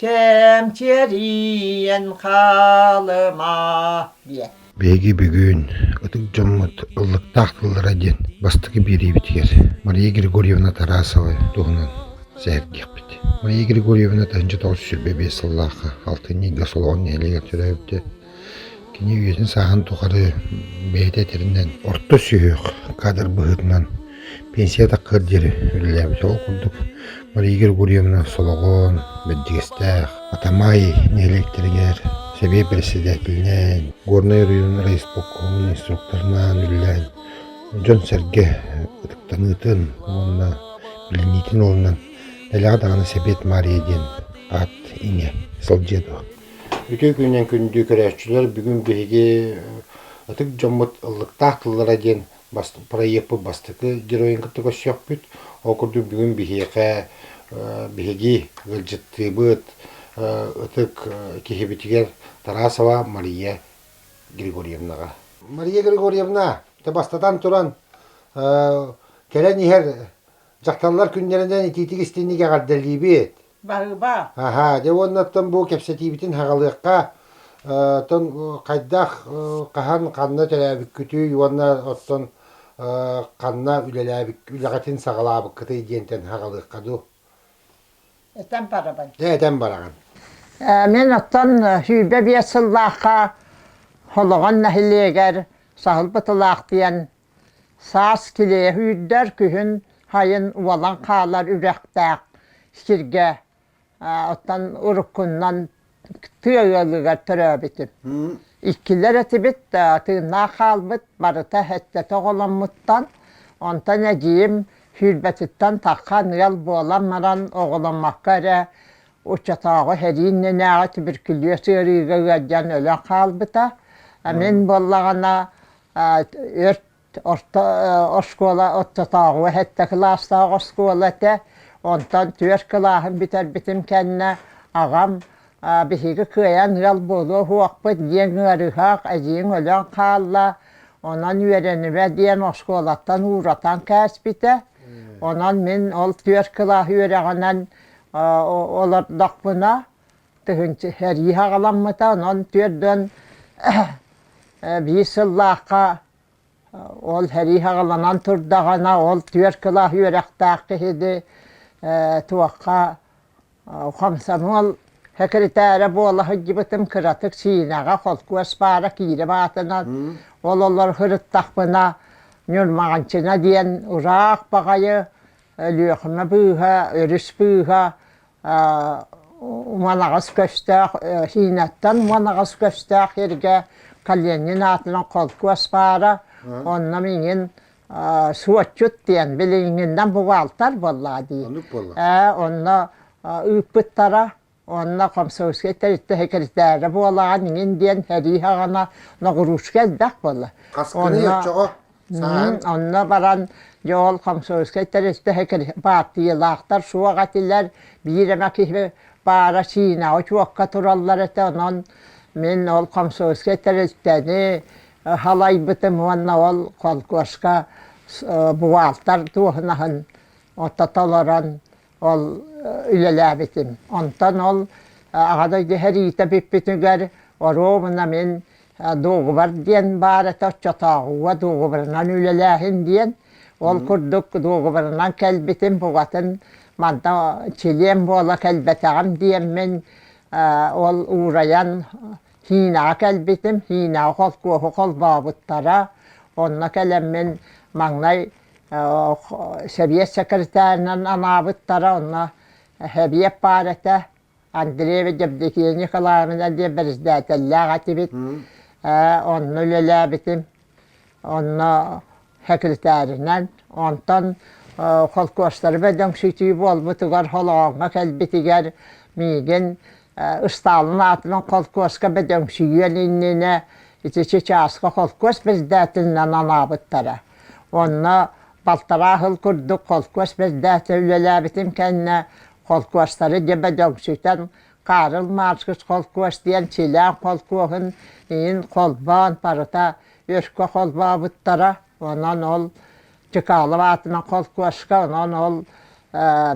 Кэмчирийэн хаалыма диэт Биһиги бүгүн ытык дьоммут ыллыктаах тыллара диэн бастакы биэриибитигэр Мария Григорьевна Тарасовы туһунан сэһэргиэхпит. Мария Григорьевна тыһыынча тоҕус сүүс биэс сыллаахха алтынньы ыйга Солоҕон нэһилиэгэр төрөөбүтэ. Кини үйэтин-сааһын тухары бэйэтэ этэринэн, орто сүһүөх кадр быһыытынан пенсия таккыгар диэри үлэлээбитэ. Ол курдук Мария Григорьевна Солоҕон, Бэрдьигэстээх, Атамай нэһилиэктэригэр сэбиэт бэрэссэдээтэлинээн, Горнай оройуон райисполкомун инструкторунаан үлэлээн, дьон-сэргэ ытыктаныытын уонна билиниитин уолунан Дэлэҕэ даҕаны Сэбиэт Маарыйа диэн аат-иҥэ сылдьыа дуо Үтүө күнүнэн күндүү көрөөччүлэр бүгүн биһиги ытык дьоммут ыллыктаах тыллара диэн бас проекпыт бастакы геройун кытта көрсүөхпүт. Ол курдук бүгүн биһиэхэ биһиги ыалдьыттыыбыт ытык киһибитигэр Тарасова Мария Григорьевнаҕа. Мария Григорьевна, ты бастатан туран кэлэн иһэр дьахталлар күннэринэн итиитик истинник эҕэрдэлиибит. Баһыба. Аһаа, дьэ уоннаттан бу кэпсэтиибитин хаҕалыахха. Оттон хайдах, хаһан, ханна төрөөбүккүтүй уонна оттон ханна үлэлээбит, үлэҕитин саҕалаабыккытый диэнтэн хаҕалыахха дуу? Этэн барабын. Дьэ, этэн бараҕын. Мин оттон сүүрбэ биэс сыллаахха Холоҕон нэһилиэгэр Саһыл Бытылаах диэн Саас килиэһи үүрдэр күһүн сайын уолан хаалар үрэхтээх сиргэ оттон уруккунан тыа ыалыгар төрөөбүтүм. Иккилэр этибит, тыыннаах хаалбыт, барыта эттэтэ оҕоломмуттан, онтон эдьиийим сүүрбэтиттэн тархан ыал буолан баран оҕоломмокко эрэ оччотооҕу сэрии иннинээҕи туберкулез ыарыыга ыалдьан өлөн хаалбыта. Мин буоллаҕына Өрт орто оскуола ортотооҕу сэттэ кылаастаах оскуола этэ. Онтон түөрт кылааһын бүтэрбитим кэннэ аҕам биһиги кыайан ыал буолуо уһуохпут диэн ыарыһах, эдьиийиҥ өлөн хаалла, онон үөрэнимэ диэн оскуолаттан ууратан кээспитэ. Онон мин ол түөрт кылаас үөрэҕинэн олордохпуна тыһыынча сэрии аҕаламмыта онон түөрдөн биир сыллаахха ол сэрии аҕаланан турдаҕына ол түөрт кылаас үөрэхтээх киһини туохха хомсонуол секретэрэ буола сылдьыбытым кыратык Сиинэҕэ холкуос баара киирим аатынан ол олор сырыттахпына Ньурмаҕанчына диэн ураах баҕайы Өлүөхүмэ быыһа, өрүс быыһа Уманаҕас көстөөх Сиинаттан Уманаҕас көстөөх сиргэ Калинин аатынан холкуос баара. Онно миигин суотчут диэн билиҥҥиннэн бухгалтер буоллаҕа дии. Оннук буолла. Ээ, онно ыыппыттара. Онно комсомольскай тэрилтэ секретаря буолаҕа миигин диэн сэрии саҕана Ногрушка элбэх буолла. Хаскыны оччоҕо? Саһан онно баран дьоол комсомольскай тэрилтэһэ баартыйалаахтар суох этилэр, биир эмэ киһи баара Синаҕа учуокка тураллар этэ, онон мин ол комсомольскай тэрилтэни халайбытым уонна ол холкуоска бухгалтер туоһунаһын отто толорон ол үлэлээбитим. Онтон ол аҕа дойду сэриитэ бүппүтүгэр оруобуна мин дуогубар диэн баар этэ оччотооҕуга дуогубарынан үлэлээһин диэн. Ол курдук дуогубарынан кэлбитим букатын манна чилиэн буола кэлбэтэҕим диэммин ол уурайан Һиинэҕэ кэлбитим. Һиинэҕэ холкуоһу холбообуттара. Онно кэлэммин маҥнай сэбиэт сэкирэтээринэн анаабыттара онно Сэбиэт паарата Андрей Евдокия Николаевна диэн бэрэстээтэллээх этибит. Онно үлэлээбитим. Онно секретаринан. Онтон холкуостары бөдөҥсүтүү буолбутугар Холооҥҥо кэлбитигэр миигин Ыстаалын аатынан холкуоска бөдөҥсүйүөн иннинэ ити Чычааска холкуос председателинэн анаабыттара. Онно балтараа сыл курдук холкуос председатель үлэлээбитим кэннэ холкуостары дьэ бөдөҥсүтэн Карл Маркс холкуос диэн силээн холкуоһун иһин холбоон барыта өркө холбообуттара. Онон ол Чыкалов аатынан холкуоска, онон ол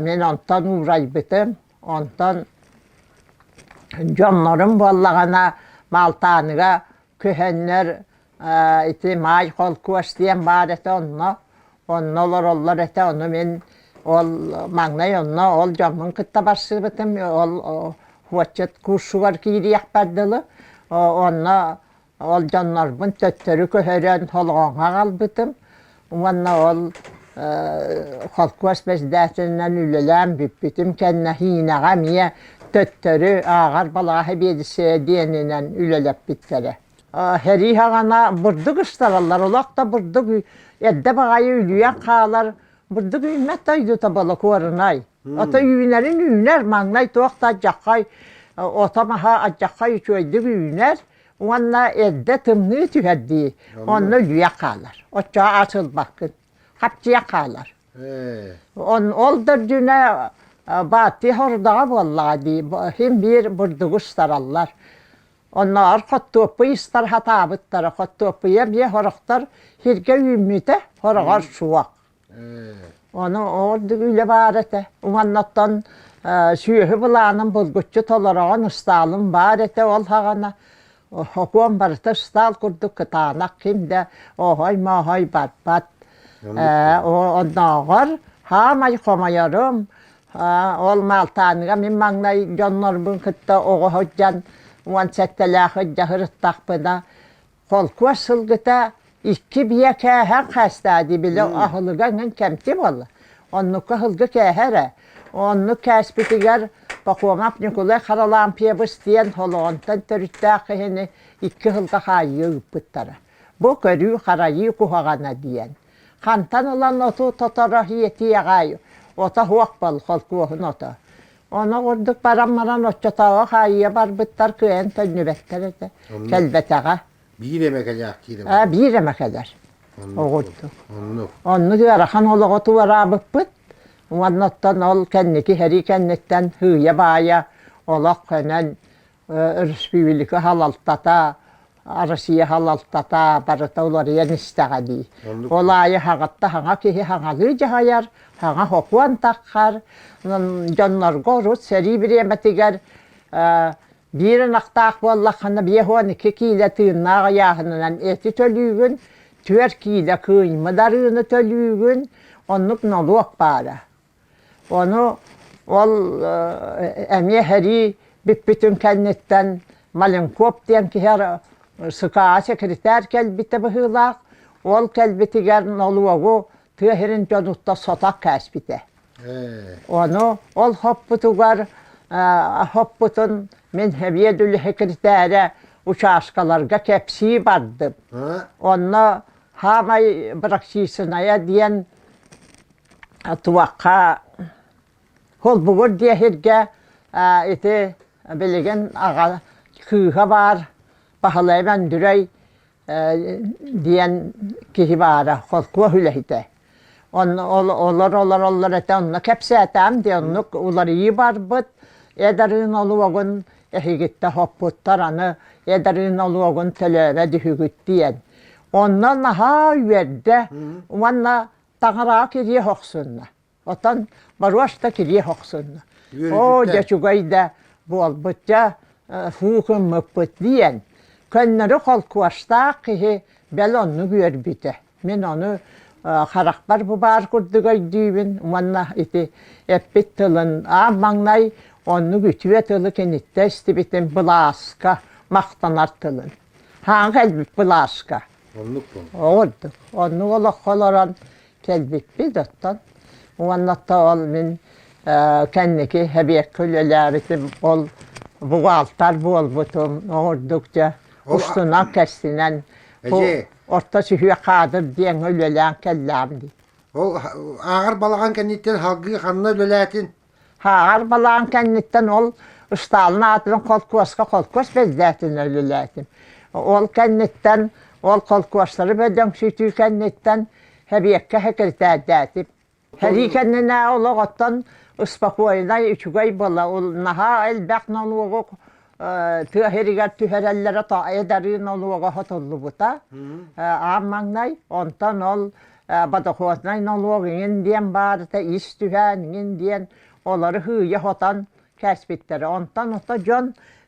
мин онтон уурайбытым. Онтон дьоннорум буоллаҕына Малтааныга көһөннөр ити Маай холкуос диэн баар этэ онно. Онно олороллор этэ ону мин ол маҥнай онно ол дьоммун кытта барсыбытым ол отчет курсугар киириэхпэр дылы онно Олдьоннорбун төттөрү көһөрөн холооҥҥо аҕалбытым уонна ол холкуос председателинэн үлэлээн бүппүтүм кэннэ Һиинэҕэ эмиэ төттөрү ааҕар балааһы биэдиссэйэ диэнинэн үлэлэппиттэрэ. Сэрии аҕана бурдук ыстараллар, олох да бурдук эрдэ баҕайы үлүйэн хаалар бурдук үүммэт дойдута болокуорунай. Ото үүнэрин үүнэр, маҥнай туох да адьаххай ото маһа адьаххай үчүгэйдик үүнэр. уонна эрдэ тымныы түһэрдии онно үлүйэн хаалар оччоҕо ас ылбаккын хапчыйан хаалар ол да үрдүнэ бааттыы хордаҕа буоллаҕа дии син биир бурдугу ыстараллар оннооҕор хоттуоппуй ыстар сатаабыттара хоттуоппуйа эмиэ сорохтор сиргэ үүммүтэ сороҕор суох Ону ордук үлэ баар этэ. Уоннаттан сүөһү былаанын булгуччу толороҕун ыстаалым баар этэ ол һаҕана. Окуон барыта ыстаал курдук кытаанах ким да оһой-моһой барбат. Оннооҕор хаамай хомойорум, ол Маалтааныга мин маҥнай дьоннорбун кытта оҕо сылдьан уон сэттэлээх ырдьа сырыттахпына холкуос сылгыта икки биэ кээһэн хаастаа дии били аһылыга эҥин кэмти буолла оннукка аһылга кээһэ эрэ оннук кээспитигэр Пахомов Ньукулай Харалаампьебыс диэн Холоонтон төрүттээх киһини икки ыһылга хаайыы ыыппыттара бу көрүү-харайыы куһаҕана диэн хантан ылан оту тоторо ийэтий аҕаай ото суох бол холкуоһун ото Ону курдук баран баран оччотооҕу хаайыйа барбыттар кыайан төннүбэттэр этэ. Кэлбэтэҕэ. Биир эмэ кэлээхтиир эмэ. Ээ, биир эмэ кэлэр. Оҕурдук. Оннук. Оннук ыарахан олоҕу туораабыппыт. Уонна оттон ол кэнники сэрии кэнниттэн сыыйа-баайа олох көнөн өрөспүүбүлүкэ салалтата, Россия салалтата барыта уларыйан истэҕэ дии. Ол аайы хаҕытта хаҥа киһи хаҥалыы дьаһайар, хаҥа хокуон таххар, дьоннорго урут сэрии бириэмэтигэр биир ынахтаах буоллаххына биэс уон iki киилэ тыыннаах ыйааһынынан эти төлүүгүн, түөрт киилэ кыымы дарыыны төлүүгүн, оннук нолуок баара. Ону ол эмиэ сэрии бүппүтүн кэнниттэн Маленков диэн киһи СКА секретарь кэлбитэ быһыылаах, ол кэлбитигэр нолуогу тыа сирин дьонуттан сотох кээспитэ. Ону ол хоппутугар хоппутун мин сэбиэт үлэ секретаря учаскаларга кэпсии бардым. Онно саамай практичная диэн туохха холбугур диэ сиргэ ити билигин аҕа кыыһа баар Баһылай Мандүрэй диэн киһи баара холкуос үлэһитэ олор олороллор этэ онно кэпсээтээм диэн оннук уларыйыы барбыт эдарыын олуогун эһигиттэ хоппуттар аны эдарыын олуогун төлөөбөт үһүгүт диэн онно наһаа үөрдэ уонна таҥараҕа кириэх охсунна отон боруос да кириэх охсунна оо дьэ чугай да буолбут дьэ һуу гыммыппыт диэн көннөрү холкуостаах киһи бэл оннук үөрбүтэ мин ону харахпар бу баар курдук өйдүүбүн уонна ити эппит тылын аан маҥнай оннук үтүө тылы киниттэ истибитим былааска махтанар тылын хаан кэлбит былааска Оннук буолла. оҕурдук онну олоххо олорон кэлбиппит оттон уонна тоол мин э, кэнники эбиэккэ үлэлээбитим ол бухгалтер буолбутум оҕурдук дьэ Ол- устунан кэрсинэн бу Эдьиий, орто сүһүө каадыр диэҥҥэ үлэлээн кэллэм дии Ол ааҕар балаҕан кэнниттэн салгыы ханна үлэлээтин? Хааҕар балаҕан кэнниттэн ол ыстаалын аатынан холкуоска холкуос бэддээтин үлэлээтим. Ол кэнниттэн ол холкуостары бөдөҥсүтүү кэнниттэн сэбиэккэ сэкиритээрдээтим. Сэрии кэннинэ олоҕоттон успокойнай, үчүгэй буола, наһаа элбэх нолуогу тыа иһигэр түһэрэллэрэ то эдарыы нолуога хотуллубута аан маҥнай онтон ол бодохуоснай нолуог иҥин диэн баарыта ис түһээн иҥин диэн олору һыыйа хотон кээспиттэрэ онтон ото дьон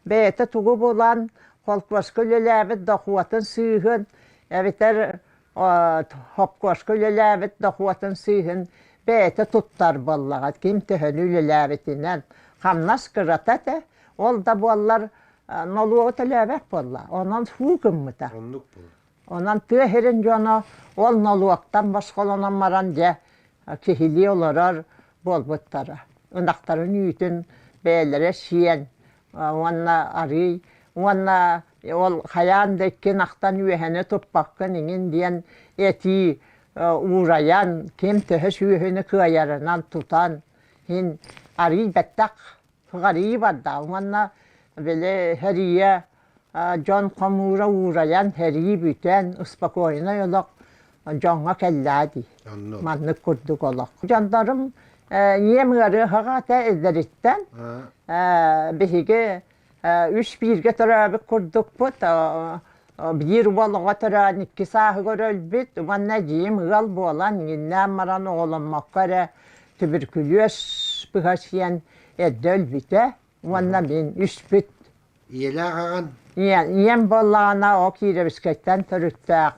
бэйэтэ тугу булан холкуоска үлэлээбит дохуотун сыыһын эбэтэр хопкуоска үлэлээбит дохуотун сыыһын бэйэтэ туттар буоллаҕа ким төһөнү үлэлээбитинэн хамнас кырата этэ ол да буоллар нолуогу төлөөбөт буолла онон фуу гыммыта оннук буолла онон тыа сирин дьоно ол нолуоктан босхолонон баран дьэ киһилии олорор буолбуттара ынахтарын үүтүн бэйэлэрэ сиэн уонна арыый уонна Ол хайаан да иккин ахтан үөһэни туппаккын иҥин диэн этии уурайан, ким төһө сүөһүнү кыайарынан тутан иһин арыый бэттэх арыый бардаҕым уонна били эрийэ дьон хомуура уурайан эрии бүтэн успокоеннай олох дьоҥҥо кэллаа дии маннык курдук олох дьоннорум ийэм ыарыһаҕа этэ эдэриттэн биһиги үс бииргэ төрөөбүт курдукпут биир уол оҕо төрөөн икки сааһыгар өлбүт уонна дьиим ыал буолан инниннээн баран оҕоломмокко эрэ түбүркүлүөс быһа сиэн эрдэ өлбүтэ уонна мин үспүт ийэлээх аҕан ийэм буоллаҕына ол киирэбискэттэн төрүттээх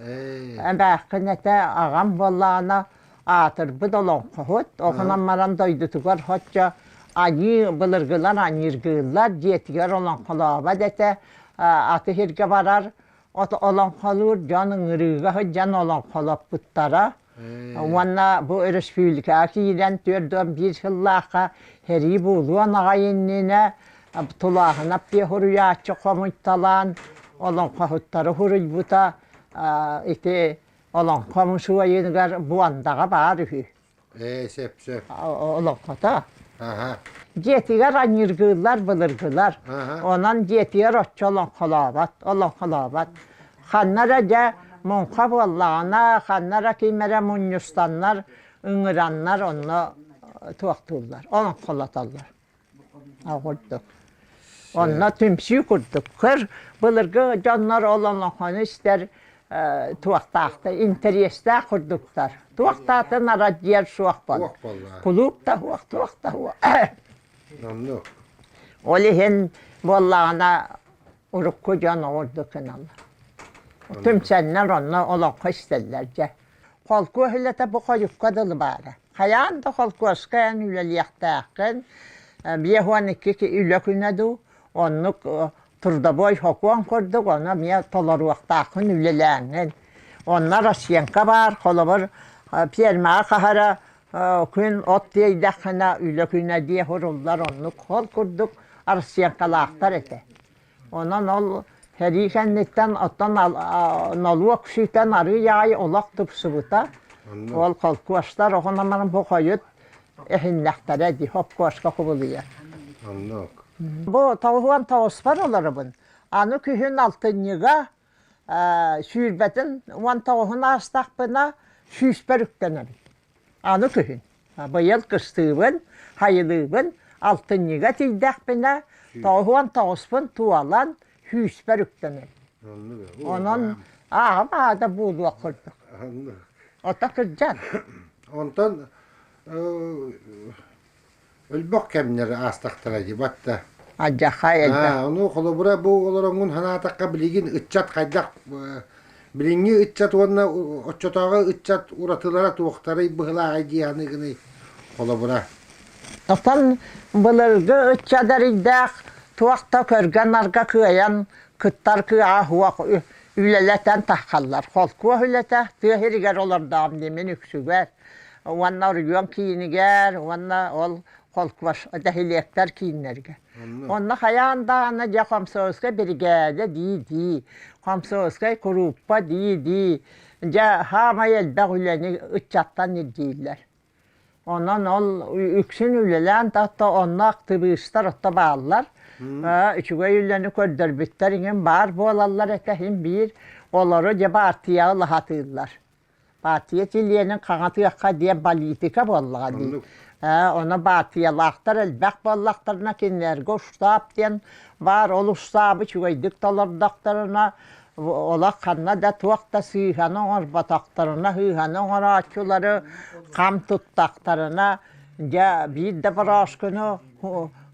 эбээххин этэ аҕам буоллаҕына аатырбыт олоҥхоһут, оҕунан маран дойдутугар хоччо айыы былыргылар аньыыргыыллар, дьиэтигэр олоҥхолообот этэ, аты иһиргэ барар, олоҥхолуур дьон ыҥырыыга сылдьан олоҥхолоппуттара. Уонна бу өрөспүүбүлүкэҕэ киирэн түөрт уон биир сыллаахха сэрии буолуон аҕай иннинэ Тулааһынап диэ суруйааччы хомуйталаан олоҥхоһуттары суруйбута. Ити олоҥхо мусуойугар Буондаҕа баар үһү. Ээ, сөп-сөп. Олоҥхото. Аха. Дьиэтигэр анньыргыыллар, былыргылар. Аха. Онон дьиэтигэр оччо олоҥхолообот, олоҥхолообот. Ханна эрэ дьэ муҥха буоллаҕына, ханна эрэ ким эрэ мунньустаннар, ыҥыраннар онно туохтууллар, олоҥхолотоллор. оҕурдук. Онно түмсүү курдук. Көр, былыргы дьоннор олонохону истэр туохтаахта интэриэстээх курдуктар. Туохтаатын арадьыйар суох бол. Кулууп да уох, туох да уох. Ол иһин буоллаҕына урукку дьон оҕурдукун алла. Түмсэннэр онно олоххо истэллэр дьэ. Холкуоһулата бу хойукка дылы баара. Хайаан да холкуоска эн үлэлиэхтээххин, биэс уон икки үлэ күнэ дуу, оннук трудовой сокуон курдук, ону эмиэ толоруохтааххын, үлэлээҥҥин. Онно Россиянка баар, холобур, пиэрмэҕэ хаһара күн от тиэйдэххинэ, үлэ күнэ диэ суруллар, оннук хол курдук Россиянкалаахтар этэ. Онон ол сэрии кэнниттэн оттон нолуок ситэн арыый аайы олох тупсубута. Ол холкуостар оҕонаман бу хойут эһиннэхтэрэ дии хопкуоска кубулуйар. Оннук. Бу тоҕуһуон тоҕуспар олоробун. Аны күһүн алтынньыга сүүрбэтин уон тоҕуһун аастахпына сүүспэр үктэнэбин. Аны күһүн, быйыл кыстыыбын, хайылыыбын, алтынньыга тиийдэхпинэ, тоһуон тоҕуспун туолан, сүүспэр үктэнэн. Онон ааҕым аада буолуох курдук. Ото кырдьан. Онтон өлбөх кэмнэр аастахтара дебат да Адьахай элбэх. Ну, холобура, бу олоронгун ханаатакка билигин ыччат хайдах билиҥҥи ыччат уонна оччотооҕу ыччат уратылара туохтарый быһылааҕай дианы гыный холобура. Оттон былыргы ыччат эрийдээх туох да көргөн-арга кыайан кыттар кыааһуох үлэлэтэн тахсаллар. Холкуос үлэтэ тыа сиригэр олордоҕум дии мин үксүгэр. Уонна оргион киинигэр уонна ол холкуос нэһилиэктэр кииннэргэ. Онно хайаан даҕаны дьэ комсомольскай биригээдэ дии-дии, комсомольскай курууппа дии-дии, дьэ хаамай элбэх үлэни ыччаттан ирдииллэр. Онон ол үксүн үлэлээн тахта онно актыбыыстар отто бааллар. Үчүгэй үлэни көрдөрбүттэр иҥин баар буолаллар этэ иһин биир олору дьэ баартыйаҕа лаһатыыллар. Баартыйа чилиэнин хаҥатыахха диэн политика буоллаҕа дии. Ону баартыйалаахтар элбэх буоллахтарына кинилэргэ штаб диэн баар ол штабы үчүгэйдик толордохторуна олох ханна да туох да сыыһаны оҥорботохторуна сыыһаны оҥорооччулары хам туттахтарына дьэ биир да бороошкуну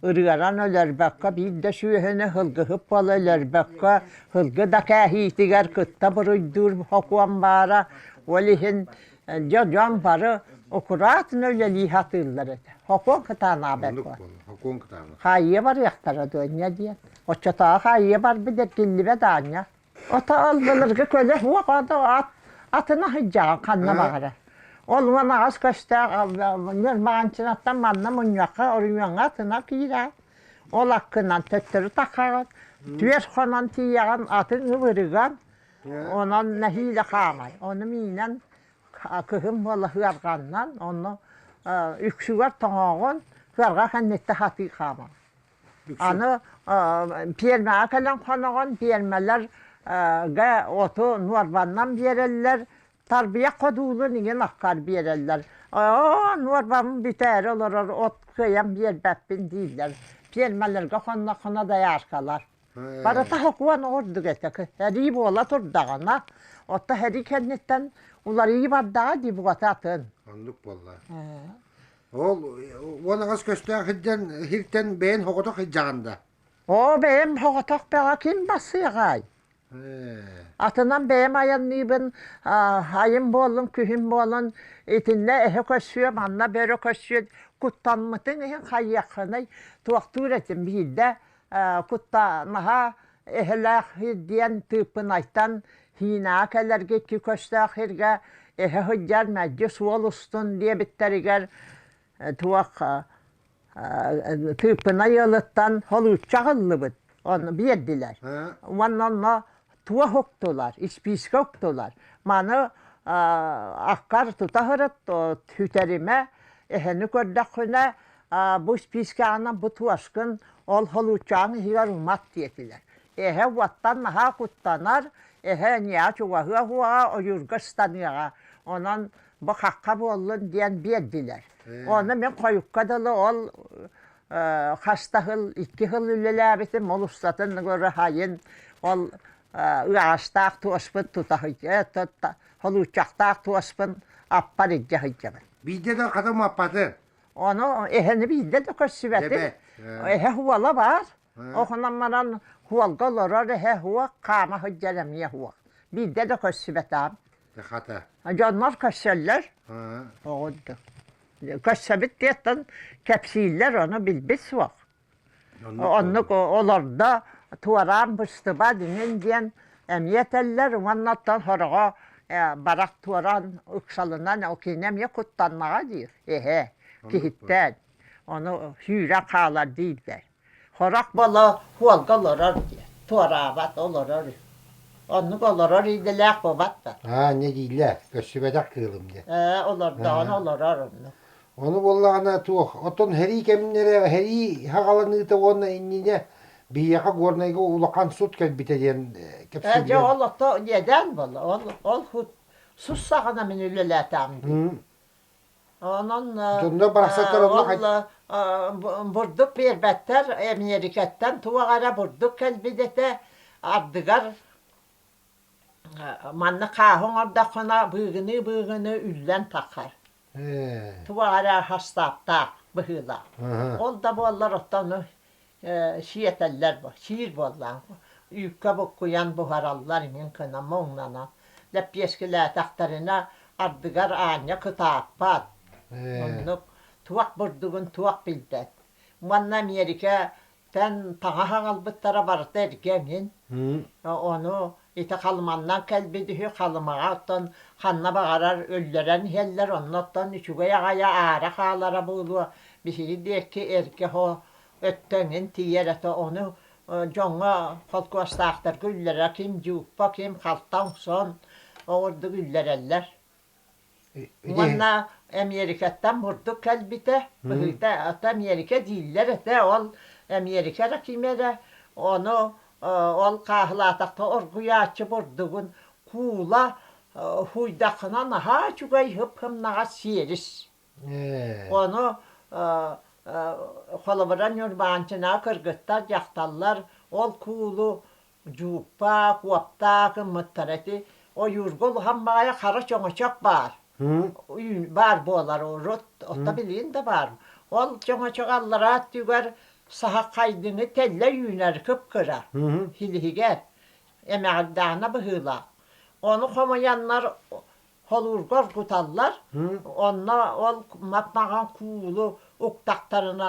ырыаран өлөрбөккө биир да сүөһүнү сылгыһыт буола өлөрбөккө сылгы да кээһиитигэр кытта буруйдуур сокуон баара ол иһин Дьэ, дьон бары аккуратно үлэлии сатыыллар этэ. Хокуон кытаанаабат буол. Хокуон кытаана. Хаайыа барыахтара дуонньа диэн. Оччотооҕу хаайыа барбыт эргиллибэт аанньа. Ото аллылырга көлө суох ото ат атына сыдьаан ханна баҕара. Ол уон аҕас көстөөх ньырмаанчынаттан манна мунньахха оруньуоҥа атына киирэ. Ол аккынан төттөрү таххаҕын, түөс хонон тиийэҕин атын ыбырыган, Онон нэһиилэ хаамай. Ону миинэн кыһын буола ыарҕаннан, ону үксүгэр тоҥоҕун ыарҕа кэнниттэ хатыы хааман. Аны пиэрмэҕэ кэлэн хоноҕун, пиэрмэлэргэ оту нуорбаннан биэрэллэр, тарбыйа ходуулун иҥин аккар биэрэллэр. Оо, нуорбам бүтээри олорор от кыйан биэрбэппин дииллэр. Пиэрмэлэргэ хонно-хоно дояркалар. Барыта сокуон ордук этэ. Эрии буола турдаҕына, оттон эрий кэнниттэн уларыы бардаҕа дии буота атын. Оннук буолла. Ол уон аҕас көстөөх сылдьан сиртэн бэйэн хоҕотох сылдьаҕын да? Оо, бэйэм хоҕотох бэҕэ ким бассыаҕай? Атынан бэйэм айанныыбын айым буоллун, күһүн буолан итиннэ эһэ көрсүө, манна бөрө көрсүө, куттаммытын иһин хайыаххыный, туохтуур этим биирдэ куттанаһа эһэлээх диэн тыыппынайтан һиинэҕэ кэлэргиччи көстөөх сиргэ эһэ сылдьар мэлдьи суол устун диэбиттэригэр туох тыыппынай ыалыттан холуучча аҕыллыбыт ону биэрдилэр уонна онно туох уктулар, испиискэ уктулар. Маны аккар тута ырыт үтэримэ, эһэни көрдөххүнэ, бу испиискэҕинэ бу туошкын, ол холууччаҕын иһигэр умат диэтилэр. Эһэ уоттан наһаа куттанар, эһэ эниэҕэ чугаһыа уһуоҕа, ойуурга ыстаныаҕа. Онон бу хахха буоллун диэн биэрдилэр. Ону мин хойукка дылы ол хас да сыл, икки сыл үлэлээбитим, ол устатын ураһайын, ол ыаҕастаах туоспут тута сылдьа, холууччахтаах туоспун аппар илдьэ сылдьабын. Биирдэ да хатым аппаты? Ону эһэни биирдэ да көрсүбэтим. Эһэ уола баар. Оһунан баран хуолга олорор эһэ уох, хаама сылдьар эмиэ уох. Биирдэ да көрсүбэтэм. Хата. Дьоннор көрсөллөр. Оҕурдук. көрсөбүт диэттэн кэпсииллэр ону билбит суох оннук олордо туораан быстыба динин диэн эмиэ этэллэр уоннаттан хороҕо барах туоран ыксалынан ол кини эмиэ куттаннаҕа диир эһэ киһиттэн ону сүүрэ хаалар диирдэр Харах Бала Куолга олорор диэн, туораабат, олорор үһү. Оннук олорор идэлээх бобат да. Аа, не дийлэ, көссүбэтэх кыылым диэн. Ээ, олордоҕун олорор оннук. Ону буоллаҕына туох, оттон һэрии кэмнэрэ, һэрии хаҕаланыыта уонна иннинэ биһиэхэ Горнайга улахан сут кэлбитэ диэн э, кэпсииллэр. Дьэ, ол ото недээн буолла. Ол, ол сут сус саҕана мин үлэлээтэҕим дии. Онон бурдук биэрбэттэр, Эмиэрикэттэн туох эрэ бурдук кэлбит этэ, ардыгар манна хааһы оҥордоххуна быыгыныы-быыгыныы үллэн тахар. Туох эрэ хастааптаах быһыылаах. Ол да буоллар оттон сиэтэллэр сиир буоллаҕыҥ үүккэ буккуйан буһараллар иҥин гына муҥнанан лэппиэскилээтэхтэринэ ардыгар аанньа кытааппат оннук туох бурдугун туох билбэт уонна америкаттан таҥа хаҥалбыттара барыта эргэ эҥин ону Ити Халыманнан кэлбит үһү, Халымаҕа оттон ханна баҕарар өллөрөн иһэллэр, онно оттон үчүгэй аҕайа аара хаалара буолуо, биһиги диэки эргэ оһо өттөҥүн тиийэр этэ, ону дьоҥҥо, холкуостаахтарга үллэрэ ким дьууппа, ким халта оҥсон, оҕурдук үллэрэллэр. Уонна Эмиэрикэттэн бурдук кэлбитэ, быһыыта ата Эмиэрикэ дииллэр этэ, ол Эмиэрикэ эрэ ким эрэ ону ол хааһылаатахха оргуйааччы бурдугун куула хуйдаххына наһаа үчүгэй хып-хымнаҕас сиэрис. Ону холобура Ньурбаанчынаҕа кыргыттар, дьахталлар ол куулу дьууппаа, куоптаа гыммыттара ити ойуурга улахан баҕайы хара чөҥөчөк баар. баар буолар урут, отто билигин да баар. Ол чөҥөчөк аллараа өттүгэр саһаххайдыны тэллэ үүнэр кып-кыра, силиһигэр, эмэҕирдээнэ быһыылаах. Ону хомуйаннар холуурга оргуталлар, онно ол мапмаҕан куулу уктахтарына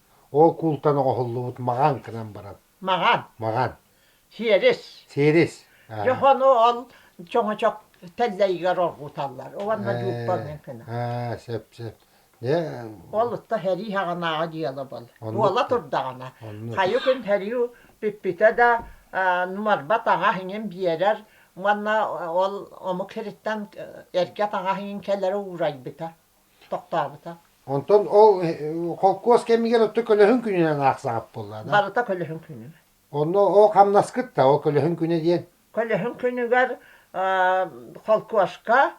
Ол куултан оҕоһуллубут маҕан гынан баран. Маҕан. Маҕан. Сиэрис. Сиэрис. Дьохону ол чоҥочох тэллэйигэр оргуталлар, уонна дьууппаныан гына. Сөп-сөп. Ол ытта сэрии саҕанааҕы дьыала буол. Буола турдаҕына, хайы күн сэрии бүппүтэ да, нуарбат аҕа иҥин биэрэр уонна ол омук сириттэн эргэ аҕа иҥин кэлэрэ уурайбыта. тохтообута. Онтон ол холкуос кэмигэр отто көлөһүн күнүнэн аахсаҕыт буолла да? Барыта көлөһүн күнү. Онно ол хамнаскыт да, ол көлөһүн күнэ диэн? Көлөһүн күнүгэр холкуоска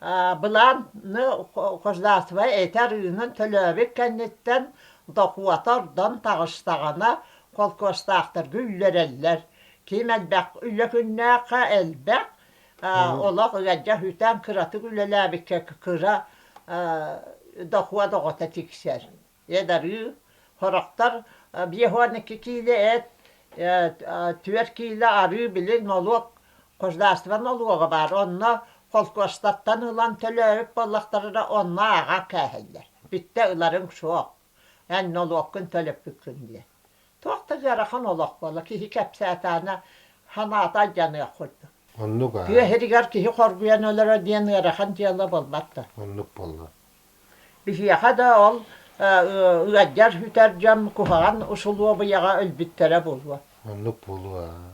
былааны хождатвай эти арыынан төлөөбүт кэнниттэн дохуота ордон таҕыстаҕына холкуостаахтарга үллэрэллэр. Ким элбэх үлэ күннээххэ элбэх, олох ыалдьа үтэн кыратык үлэлээбиккэ кыра дохуот оҕото тиксэр эдарыы сорохтор биэс уон икки киилэ эт түөрт киилэ арыы билин молуок государство нолуога баар онно холкуостаттан ылан төлөөбүт буоллахтарына онно ааҕа кээһэллэр бүттэ ыларыҥ суох Эн нолуоккун төлөппүккүн диэн. Туох да ыарахан олох буолла, киһи кэпсээтаана санаата алдьаныах курдук. Оннук аа. Тыа иһигэр киһи хоргуйан өлөрө диэн ыарахан дьыала буолбат да. Оннук буолла. Биһиэхэ да ол ыалдьар-бүтэр дьон куһаҕан усулуобуйаҕа өлбүттэрэ буолуо. Оннук буолуо аа.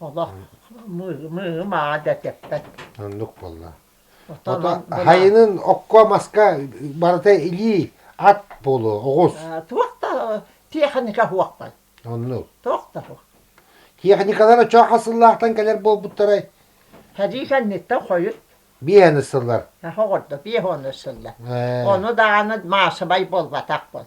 Олох мыым ааҕа да тэппэт. Оннук буолла. Отон хайынын окко-маска барыта илии ат буолуо оҕус. Туох да техника хуохпай. Оннук. Туох да хуох. Техникалар очоо хасыллаахтан кэлэр буолбуттарай? Хадыы кэнниттэн хойут. Биэһэн ыссыллар. Оҕордо биэһ ону ыссыллар. Ону даҕаны маасыбай буолбатах бол.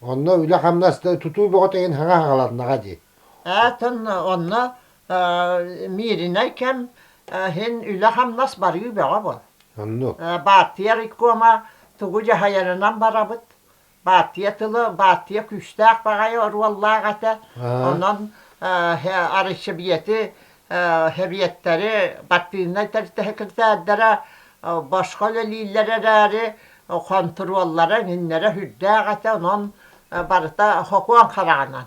Онно үлэ-хамнас да тутуу бөҕөтө иһин хаҥа хаҕаланнаҕа дии. Атын онно Мииринэй кэм иһин үлэ-хамнас барыы бөҕө буол. Оннук. Бааттыйа райкома тугу дьаһайарынан барабыт. Бааттыйа тылы бааттыйа күүстээх баҕайы оруоллаах этэ. Онон арыйсыбиэти сэбиэттэри, партийнай тэртэһэкиртээрдэрэ босхо үлэлииллэр эрээри, хонтуруоллара иннинэ үрдээх этэ, онон барыта сокуон хараҕынан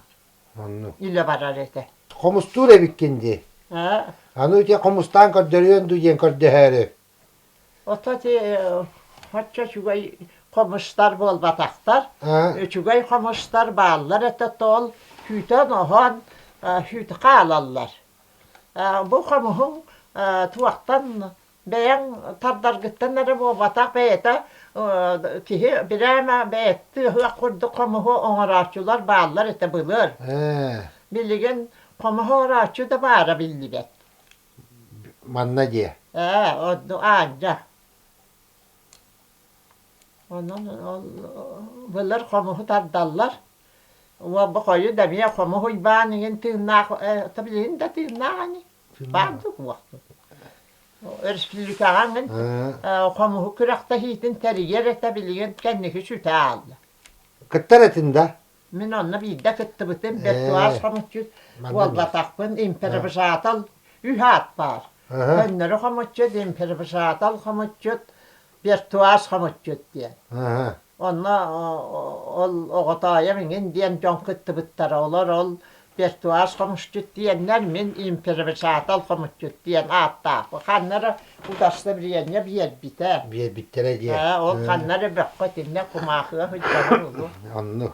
илэ барар этэ. Хомустуур эбиккин дии. Аны ити хомустаан көрдөрүөн дуу диэн көрдөһөөрү. Ото ити оччо үчүгэй хомустар буолбатахтар. Үчүгэй хомустар бааллар этэ тоол күүтэн-оһон үүтү хаалаллар. Бу хомуһуҥ туохтан бэйэҥ тардаргыттан эрэ буолбатах бэйэтэ киһи бирээмэ бэйэттии ыһыах курдук хомуһу оҥорооччулар бааллар этэ былыр. Билигин хомуһу орооччу да баара биллибэт. манна дии Ээ, ордук Аанча. Онон ол былыр хомуһу тардаллар. Уолба хойут эмиэ хомуһ уйбаан иҥин тыыннаах э, то билигин да тыыннаах ини. Баардык уохтут. Өрөспүүлүкэҕэ ангын э, хомуһу күрэхтэһиитин тэрийэр этэ билигин кэнники сүтэ аалла. кыттар этин да Мин онно биирдэ кыттыбытым, виртуал хомуччу буолбатахпын, импровизатор үс аат баар. Көннөрү хомуччут, импровизатор хомуччут, виртуал хомуччут диэн. Онно ол оҕотоойом иҥин диэн дьон кыттыбыттара. Олор ол Пертуаз хомусчут диэннэр мин императал хомусчут диэн ааттаах. Ханна эрэ удостоверение биэрбитэ. Биэрбиттэрэ диэн. Ээ, ол ханна эрэ бөххө итиннэ кумаахыга сылдьабын улуу. Онну.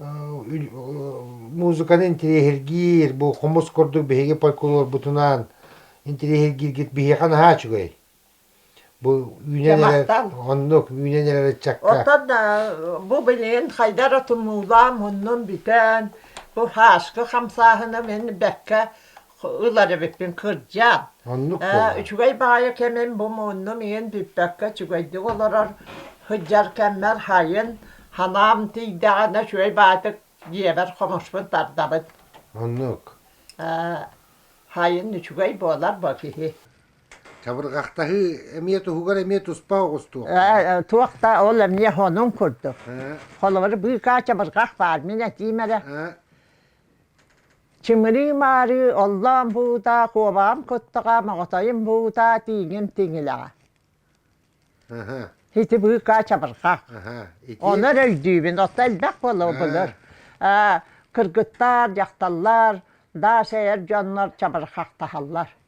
музыканы интириэһиргиир, бу хомус курдук биһиги фольклорбутунаан интириэһиргииргит биһиэхэ наһаа үчүгэй. Бу үүнэн эрэр оннук үүнэн эрэр ыччакка. Оттон бу билигин хайда эрэ тумуулаам, оннун бүтэн, бу хааска хамсааһына мин бэккэ ылар эбиппин кырдьаан. Оннук буолар. Үчүгэй баҕайы кэмим бу муннум иһин бүппэккэ үчүгэйдик олорор сылдьар кэммэр хайын санаам тиийдэҕинэ үчүгэй баатык дьиэбэр хомуспун тардабыт. Оннук. Хайын үчүгэй буолар бу киһи. Чабырҕахтаһыы эмиэ туһугар эмиэ туспа оҕустуох. Ээ, туох да ол эмиэ хонун курдук. Холобур, быыкаа чабырҕах баар, мин этиим эрэ. Чымырыы-маарыы оллоон буута, куобаҕым куттаҕа, моҕотойум буута, тииҥим тиҥилэҕэ. Ити быыкаа чабырҕа. Ону эрэ өйдүүбүн, оттон элбэх буолуо былыр. Кыргыттар, дьахталлар, даас эйэр дьоннор чабырҕахтаһаллар.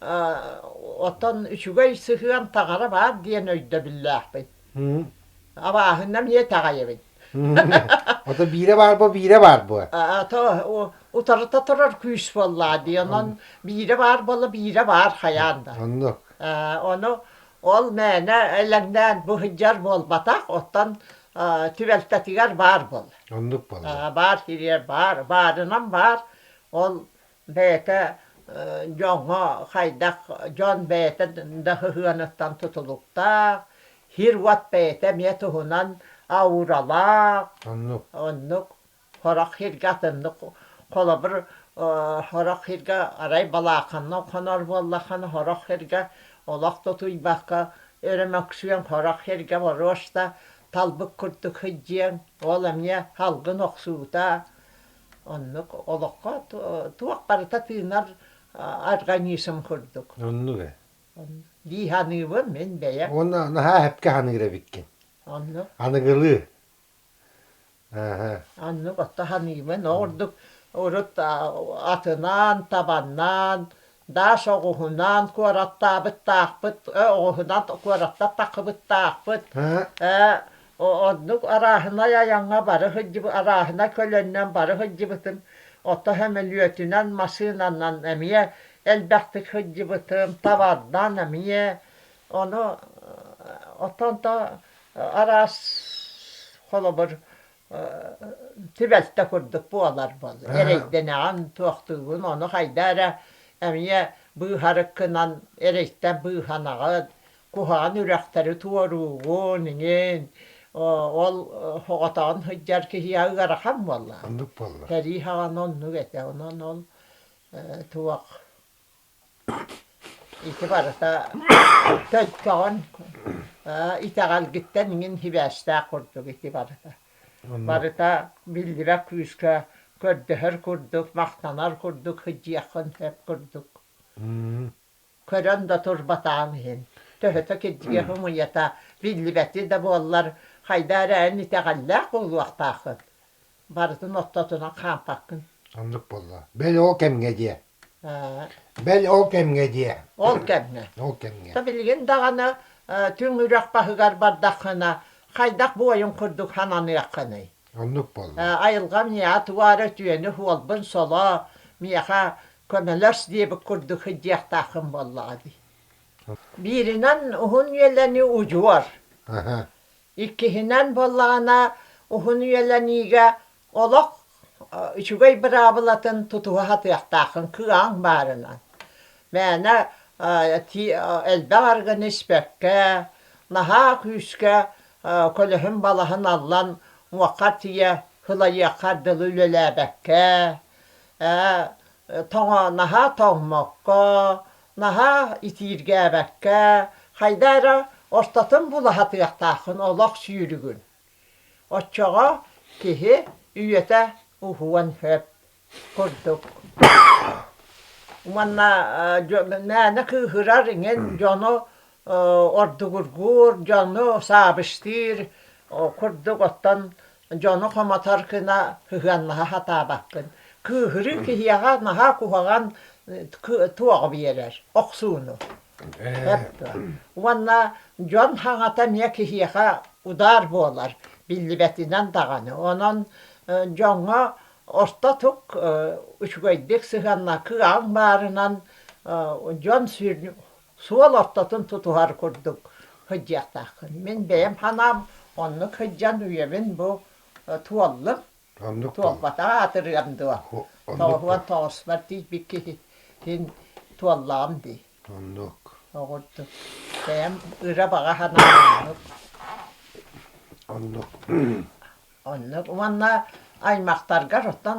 Оттон үчүгэй сыһыан таҥара баар диэн өйдөбүллээхпин. Абааһыны эмиэ итэҕэйэбин. Ото биирэ баар буо, биирэ баар буо. Ато утарыта турар күүс буоллаа дии. Онон биирэ баар буола биирэ баар хайаан да. Оннук. Ону ол мээнэ элэҥнээн бу сылдьар буолбатах, оттон түбэлтэтигэр баар буол. Оннук буолла. Баар кириэр баар, баарынан баар. Ол бэйэтэ дьоҥҥо хайдах дьон бэйэтэ да сыһыаныттан тутулуктаах, сир-уот бэйэтэ эмиэ туһунан ауралаах, оннук сорох сиргэ атыннык холобур сорох сиргэ арай балааканнан хонор буоллаххына сорох сиргэ олох да утуйбакка өрө мөксүөн сорох сиргэ боруоста талбыт курдук сылдьыаҥ ол эмиэ салгын охсуута Оннук олоххо туох барыта тыынар организм курдук. Оннук ээ. Дии саныыбын мин бэйэм. Уонна наһаа эпкэ саныыр эбиккин. Оннук. Аныгылыы. Оннук отто саныыбын. Ол ордук урут атынаан, табаннаан, Даш оҕуһунан куораттаабыттаахпыт, ээ, оҕуһунан куораттаттахыбыттаахпыт, ээ, оннук арааһынай айаҥҥа бары сылдьыбыт, арааһынай көлөннөн бары сылдьыбытым, оттон сөмөлүөтүнэн, массыынанан эмиэ элбэхтик сылдьыбытым, табардан эмиэ, ону оттон то араас холобур түбэлтэ курдук буоларбын, эрэйдэнэҕин, туохтуубун, ону хайда эрэ эмиэ быыһарыккынан эрэйтэн быыһанаҕын, куһаҕан үрэхтэри туоруугун иҥин, ол соҕотоҕун сылдьар киһиэхэ ыарахан буолла. Оннук буолла. Сэрии саҕана оннук этэ, онон ол туох Ити барыта төлкөҕүн ээ итэҕэлгиттэн иҥин сибээстээх курдук ити барыта. Барыта биллибэ күүскэ көрдөһөр курдук, махтанар курдук сыдьыйаххын сөп курдук. Көрөн да турбатаҕыҥ иһин. Төһөтө кирдьиги хомуйата биллибэти да буоллар, хайдаа эрэ эн итэҕэллээх буолуохтааххын. Барытын ортотунан хаампаккын. Оннук буолла. Бэл ол кэмҥэ диэ. Бэл ол кэмҥэ диэ. Ол кэмҥэ. Ол кэмҥэ. То билигин даҕаны түҥ үрэх баһыгар бардаххына хайдах буойун курдук сананыаххыный? Оннук буолла. Айылҕам ньиэһэ туора үтүөнү суолбун соло миэхэ көмөлөс диэбит курдук сылдьыахтааххын буоллаҕа дии. Бииринэн уһун үөлэни удьуор Иккиһинэн буоллаҕына, уһун үйэлэниигэ олох үчүгэй быраабылатын тутуһа сатыахтааххын кыаҕыҥ баарынан. Мээнэ элбэх аргыны испэккэ, наһаа күүскэ көлөһүн-балаһын аллан уҥуоххар тиийэ сылайыаххар дылы үлэлээбэккэ, тоҕо наһаа тоҥмокко, наһаа итииргээбэккэ, хайда эрэ ортотун булаһатыахтааххын олох сүүрүгүн. Оччоҕо киһи үйэтэ уһуон сөп курдук. Уонна мээнэ кыыһырар иҥин дьону ордугургуур, дьону саабыстыыр курдук оттон дьону хомотор гына сыһыаннаһа сатаабаккын. Кыыһырыы киһиэхэ наһаа куһаҕан туоҕу биэрэр, охсууну. Уонна дьон хаҥата эмиэ киһиэхэ удаар буолар, биллибэтинэн даҕаны. Онон дьоҥҥо ортотук үчүгэйдик сыһыанна кыаҕыҥ баарынан дьон суол ортотун тутуһар курдук сылдьыахтааххын. Мин бэйэм санаам оннук сылдьан үйэбин бу туоллум. Оннук дуо? Туолбатаҕа аатырыам дуо? Тоҕуһуон тоҕуспар тиийбит киһитин туоллаҕым дии. Оннук. Оҕурдук. Бэйэм ыра баҕа санаам оннук. Оннук. Оннук. Уонна аймахтаргар оттон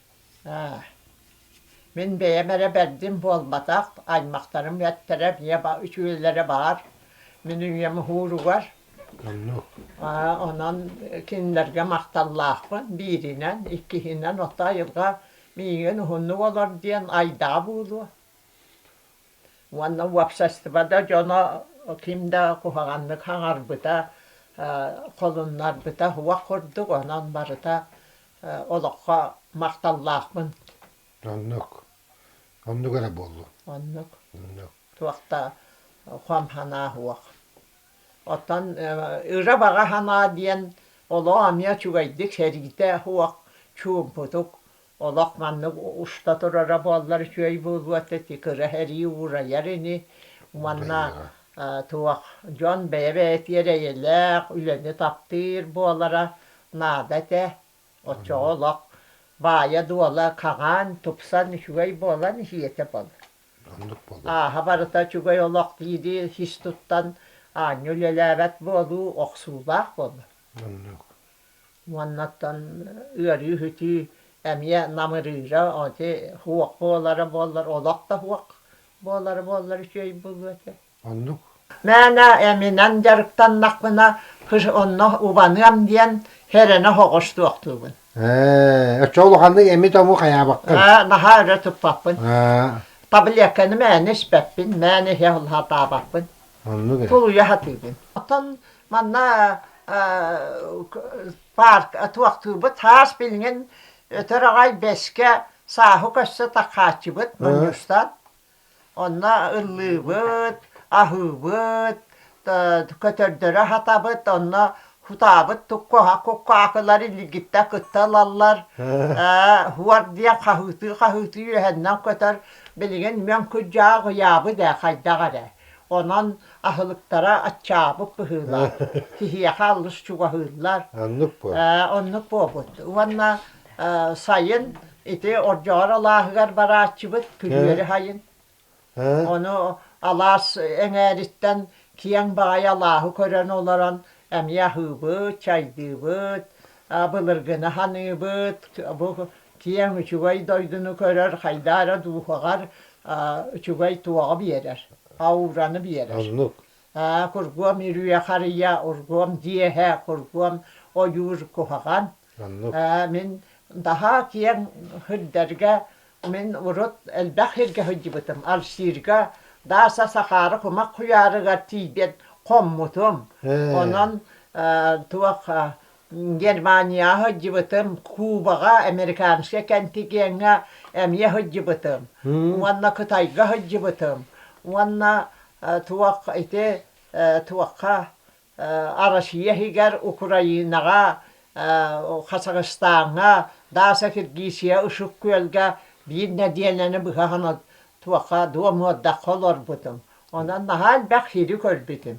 Мин бэйэм эрэ бэрдим буолбатах, аймахтарым эттэрэ үтүөлэрэ баар, мин үйэм уһууругар онон кинилэргэ махталлаахпын бииринэн, иккиһинэн ото айылҕа миигин уһуннук олор диэн айдаҕа буолуо уонна уопсастыба да дьоно ким да куһаҕаннык хаҥарбыта холуннарбыта уох курдук онон барыта олоххо махталлаахпын. Оннук. Оннук эрэ буоллу. Оннук. Оннук. Туох да хам санаа суох. Оттон ыра баҕа санаа диэн олох эмиэ үчүгэйдик сэриитэ суох, чуумпутук олох маннык уста турара буоллар үчүгэй буолуо ити кыра сэрии уурайар ини уонна туох дьон бэйэ-бэйэтигэр эйэлээх үлэни таптыыр буолара наада этэ. Оччоҕо олох баайа-дуола хаҥаан, тупсан үчүгэй буолан иһиэтэ бол. Оннук буолуо. Ааһа барыта үчүгэй олох диири сис туттан аанньа үлэлээбэт буолуу охсуулаах буолла. Оннук. Уоннаттан ыарыы-үһүтүү эмиэ намырыыра, ити һуох буолара буоллар, олох да һуох буолара буоллар үчүгэй буолуо этэ. Оннук. Мээнэ эминэн дьарыктаннахпына, кыш онно убаныам диэн хэрэнэ оҕоштуохтуубун. Ээ, оччо улаханнык эми-тому хайаабаккын. Ээ, наһаа өрө туппаппын. Таблетканы мээнэ испэппин, мээнэ иһэ сатаабаппын. Оннук эрэ. Тулуйа сатыыбын. Оттон манна парк туохтуубут хаас билигин өтөр аҕай бэскэ сааһы көссө такааччыбыт мунньустан Онно ыллыыбыт, аһыыбыт, көтөрдөрө сатабыт, онно сутаабыт куһа куккаакылар илигиттэн кытта ылаллар. Ээ уор диэн хаһыытыы-хаһыытыы үөһэннэн көтөр. Билигин Мөҥкүдьээх ыйаабыт ээ хайдах эрэ. Онон аһылыктара аччаабыт быһыылаах. Киһиэхэ алыс чугаһыыллар. Оннук буолбут. Ээ оннук буолбут. Уонна сайын ити Ордоҕор алааһыгар барааччыбыт күрүөрү хайын. Ону алаас эҥээриттэн киэҥ баҕайы алааһы көрөн олорон эмиэ аһыыбыт, чайдыыбыт, былыргыны ханыыбыт, бу киэҥ үчүгэй дойдуну көрөр, хайдаа эрэ дууһаҕар үчүгэй туоҕу биэрэр, аураны биэрэр. Кургуом үрүйэ харыйа, ургуом дьиэһэ, кургуом ойуур куһаҕан. Мин наһаа киэҥ сирдэргэ мин урут элбэх сиргэ сылдьыбытым. Алсыырга Дааса Сахаара кумах куйаарыгар тиийбит хоммутум. Онон туох Германияҕа сылдьыбытым, Кубаҕа, американскай кэнтигиэҥҥэ эмиэ сылдьыбытым. Уонна Кытайга сылдьыбытым. Уонна туох ити туохха Россия иһигэр Украинаҕа, Хасахстаҥҥа, Дааса Киргизия Ышык Күөлгэ биир нэдиэлэни быһа туохха дуомуордахха олорбутум. Онон наһаа элбэх сири көрбүтүм.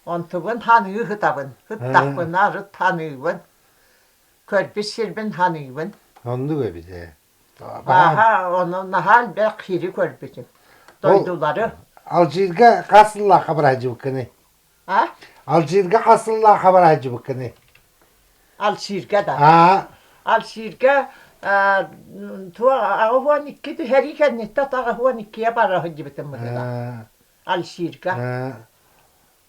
Онтубун ханыы ыһытабын. Ыттахпына арыт ханыыбын. Көрбүт сирбин ханыыбын. Оннук эбит ээ. Бааһа, ону наһаа элбэх сири көрбүтүм. Дойдулары. Алжирга хас сыллаахха быраһдьыбыккыный? Алжирга хас сыллаах абараадьыбыккыный? Алжирга да. Аа. Алжирга туох аҕыс уон икки түһэрии кэнниттэ аҕыс уон иккиэ бара сылдьыбытым бытыга. Алжирга.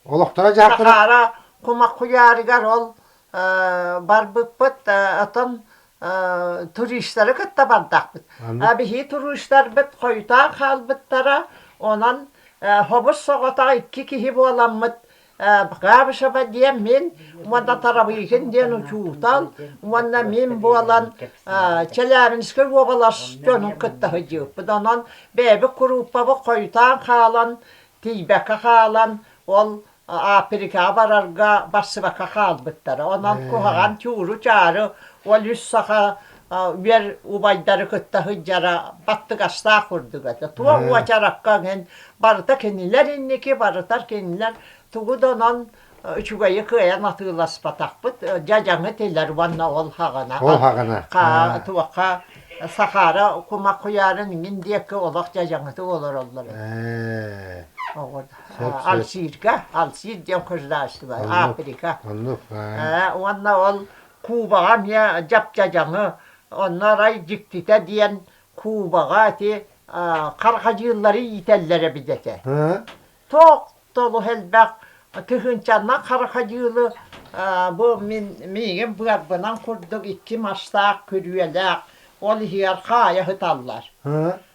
Олохторо дьаахтара. Сахара кумах куйаарыгар ол барбыппыт, отон туристары кытта бардахпыт. Биһии туристарбыт хойутаан хаалбыттара, онон хобус соҕотох икки киһи буоламмыт Габышева диэн мин уонна Тарабыйкин диэн учуутал уонна мин буолан Челябинскай уобалас дьонун кытта сылдьыбыппыт. Онон бэйэбит курууппабыт хойутаан хаалан, тиийбэккэ хаалан ол Африкаҕа барарга барсыбакка хаалбыттара. Онон куһаҕан чууру-чаары, ол үс саха үөр убайдары кытта сылдьара баттыгастаах курдук этэ. Туох уочаракка иһин барыта кинилэр инники, барытар кинилэр тугу да онон үчүгэйи кыайан атыыласпатахпыт. Дьадьаҥы тилэр уонна ол хаҕана. Ол хаҕана. Туохха Сахара кумах куйаарын иҥин диэкки олох дьадьаҥытык олороллор. Оҕо да. Алжирга, Алжир диэн государство, Африка. Оннук. Уонна ол Кубаҕа эмиэ дьапдьадьаҥы, онно арай дьиктитэ диэн Кубаҕа ити хархадьыыллары иитэллэр эбит этэ. Тоох толух элбэх тыһыынчанан хархадьыылы бу мин миигин быарбынан курдук икки мастаах күрүөлээх ол иһигэр хаайа сыталлар.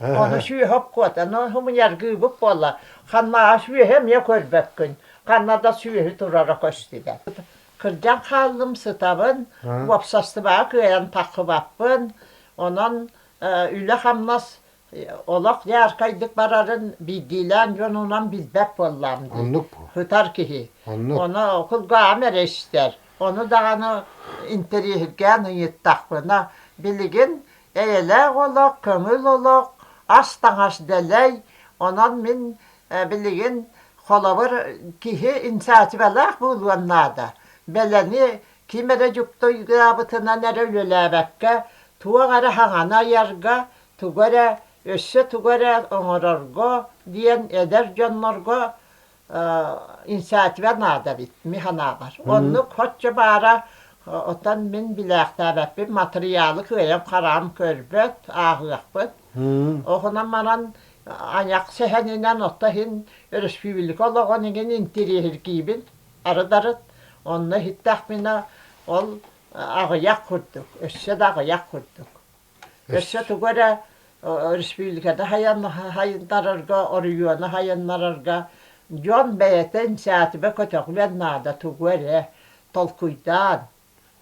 Ону сүөһүк куотаны хомуньяргыыбыт буолла. Ханнааҕа сүөһү эмиэ көрбөккүн. Ханна да сүөһү турара көстүбэт. Кырдьан хааллым сытабын, уопсастыбаҕа кыайан тахсыбаппын. Онон үлэ-хамнас олох дьаархайдык барарын биирдиилээн дьонунан билбэт буоллаам дии. Оннук буол. Сытар киһи. Оннук. Ону кулгааҕым эрэ истэр. Ону даҕаны интэриэһиргээн ыйыттахпына, билигин Эйэлээх олох, көҥүл олох, ас-таҥас дэлэй. Онон мин билигин холобур киһи инициативалаах буолуон наада. Бэлэни ким эрэ дьуктуйдаабытынан эрэ үлэлээбэккэ, туох эрэ хаҥаны айарга, тугу эрэ өссө тугу эрэ оҥорорго диэн эдэр дьоннорго инициатива наада эбит механабар оннук хоччу баара отон мин билээхтээбэппин матырыйаалы кыайам-хараам көрбөт ааҕыахпыт оһунан маран аньах сэһэнинэн отто иһин өрөспүүбүлүкэ олоҕун игин интириэһиргиибин арыдарыт онно иһиттэхпинэ ол аҕыйах курдук өссө да аҕыйах курдук Өссө тугу эрэ өрөспүүбүлүкэни хайан хайыннарарга, оройуону хайыннарарга дьон бэйэтин сээтибэ көтөҕүөн наада тугу эрэ толкуйдаан.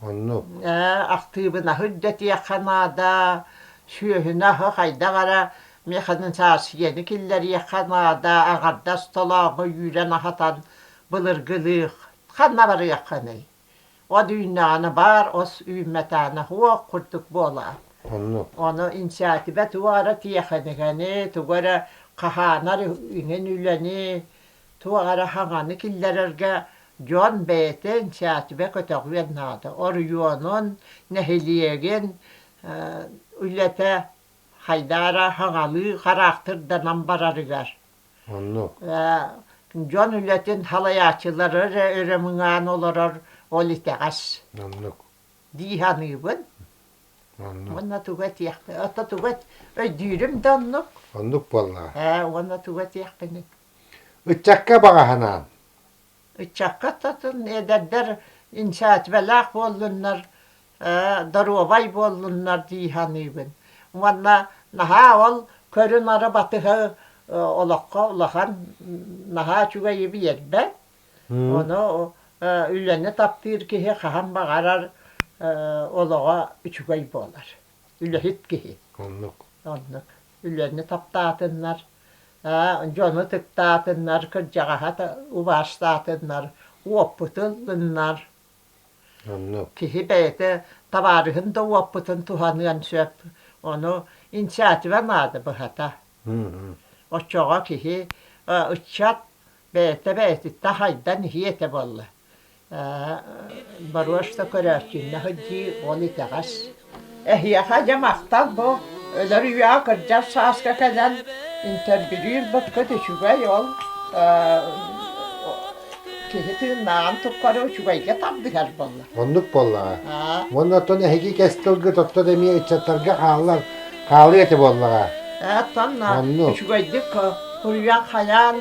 Оннук. Ээ, актыыбынаһы үрдэтиэххэ наада, сүөһүнү хайдах эрэ механизацияны киллэриэххэ наада, аҥардас толооҕу үүрэн аһатан былыргылыах ханна барыаххыный? От үүннэҕинэ баар ос үүммэтэҕинэ һуох курдук буолаат, оннук. ону инициатива тугу эрэ тиэхиникэни, тугу эрэ хаһаанар иҥин үлэни, туох эрэ хаҥаны киллэрэргэ дьон бэйэтэ инициатива көтөҕүөн наада. Оройуонун, нэһилиэгин үлэтэ хайдаа эрэ хаҥалыы хараахтырданан барарыгар Оннук. Дьон үлэтин салайааччылар эрэ өрөмүҥээн олорор ол итэҕэс. Оннук. Дии саныыбын. Оннук. Уонна туга этиэхпин, ото туга өйдүүрүм да оннук. Оннук буоллаҕа. Ээ, уонна туга этиэхпиний? Ыччакка баҕаһынаан. Ыччакка татын эдэрдэр инициативалаах буоллуннар, доруобай буоллуннар дии саныыбын. Уонна наһаа ол көрү-нары батыһа олоххо улахан наһаа үчүгэйи биэрбэт. Ону үлэни таптыыр киһи хаһан баҕарар олоҕо үчүгэй буолар. Үлэһит киһи. Оннук. Оннук. үлэни таптаатыннар, дьону ытыктаатыннар, кырдьаҕаһа убаастаатыннар, уоппутун ылыннар. Оннук. Киһи бэйэтэ табаарыһын да уоппутун туһаныан сөп. Ону инициатива наада быһата. Оччоҕо киһи ыччат бэйэтэ бэйэтиттэн хайдан иһиэ этэ буолла. борошно көрөөччүннэ сылдьыы ол итэҕэс. Эһиэхэ дьэ махтал бу өлөр үйэҕэ кырдьар сааска кэлэн интервьюлуурбуккут үчүгэй ол киһи тыыннааҕын тухары үчүгэйгэ тардыһар буолла. Оннук буоллаҕа. Уонна оттон эһиги кэс тылгыт оттон эмиэ ыччаттарга хааллар хаалыа этэ буоллаҕа. Оттон үчүгэйдик суруйан хайаан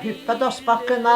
хиппэ доспаккына